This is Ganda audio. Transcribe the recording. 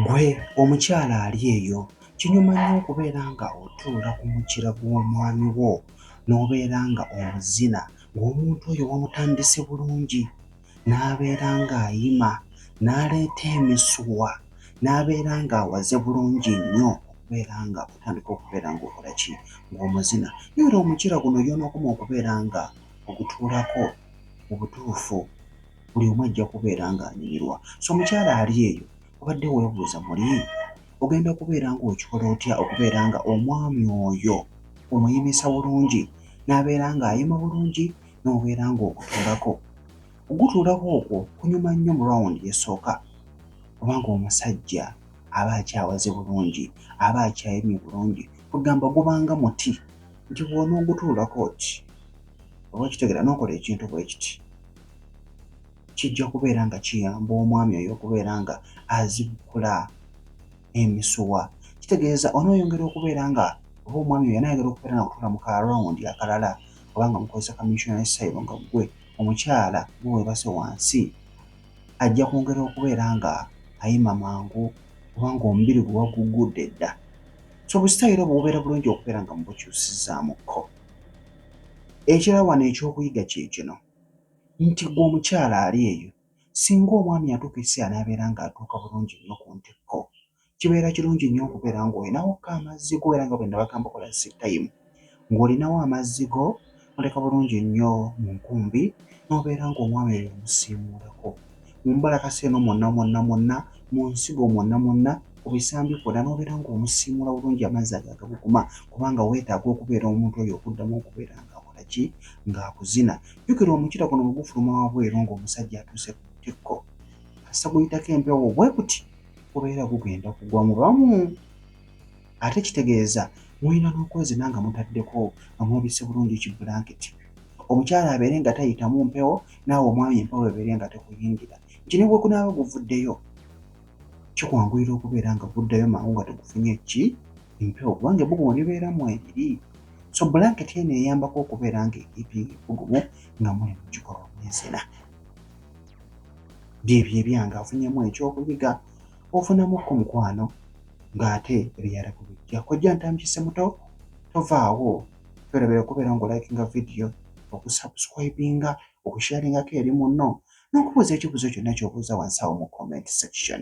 Gwe omukyala ali eyo kinyuma nnyo okubeera nga otuula ku mukira gw'omwami wo n'obeera nga omuzina ng'omuntu oyo wamutandise bulungi n'abeera ng'ayima n'aleeta emisuwa n'abeera ng'awaze bulungi nnyo okubeera nga otandika okubeera ng'okola ki ng'omuzina naye era omucira guno y'onookoma okubeera nga ogutuulako mu butuufu buli omu ajja kubeera ng'anyumirwa so omukyala ali eyo obadde weebuuza muli ogenda kubeera ng'okikola otya okubeera nga omwami oyo omuyimisa bulungi n'abeera ng'ayima bulungi n'obeera ng'ogutuulako. Okugutuulako okwo kunyuma nnyo mu rawundi esooka kubanga omusajja aba akyawaze bulungi, aba akyayemye bulungi, kwegamba gubanga muti nti bw'onoogutuulako oti oba okitegera n'okola ekintu bwe kiti kijja kubeera nga kiyamba omwami oyo okubeera nga azikkula emisuwa. Kitegeeza onooyongera okubeera nga oba omwami oyo anaayagala okubeera nga kutuula mu ka rawundi akalala. oba nga mukozesa ka missionary style nga gwe omukyala gwe webase wansi ajja kwongera okubeera nga ayima mangu oba nga omubiri gwe wagugudde dda so obusitayiro obwo bubeera bulungi okubeera nga mubukyusizzaamukko ekirala wano ekyokuyiga kyekino nti gwe omukyala ali eyo singa omwami atuuka ekiseera n'abeera nga atuuka bulungi nnyo ku ntikko kibeera kirungi nnyo okubeera ng'olinawo ko amazzi go era nga bwe nabagamba okola sitayimu ng'olinawo amazzi go oleka bulungi nnyo mu nkumbi n'obeera ng'omwami eyo omusiimuulako mu mbalakasa eno mwonna mwonna mwonna mu nsigo mwonna mwonna ku bisambi kwonna n'obeera ng'omusiimuula bulungi amazzi ago agabuguma kubanga weetaaga okubeera omuntu oyo okuddamu okubeera nga ki ng'akuzina jjukira omukira guno bwe gufuluma wabweru ng'omusajja atuuse ku ntikko asaguyitako empewo bwe kuti gubeera gugenda kugwa mu bamu ate kitegeeza mulina n'okwezina nga mutaddeko nga mwebise bulungi ki bulanketi omukyala abeere nga tayitamu mpewo naawe omwami empewo ebeere nga tekuyingira nti ne bwekunaaba guvuddeyo kikwanguyira okubeera nga guddayo mangu nga tegufunye ki empewo kubanga ebbugu mu libeera mu ebiri so bulanketi eno eyambako okubeera nga ekiipinga ebbugumu nga muli mu kikolwa mwezina byebyo ebyange afunyemu ekyokuyiga ofunamuko mukwano ng'ate ebirala kubijja kojja ntamukise muto tovaawo twerabira okubeera nga olikinga vidiyo okusubscribinga okusharingako eri munno n'okubuuza ekibuuzo kyonna kyobuuza wansi awo mu comment section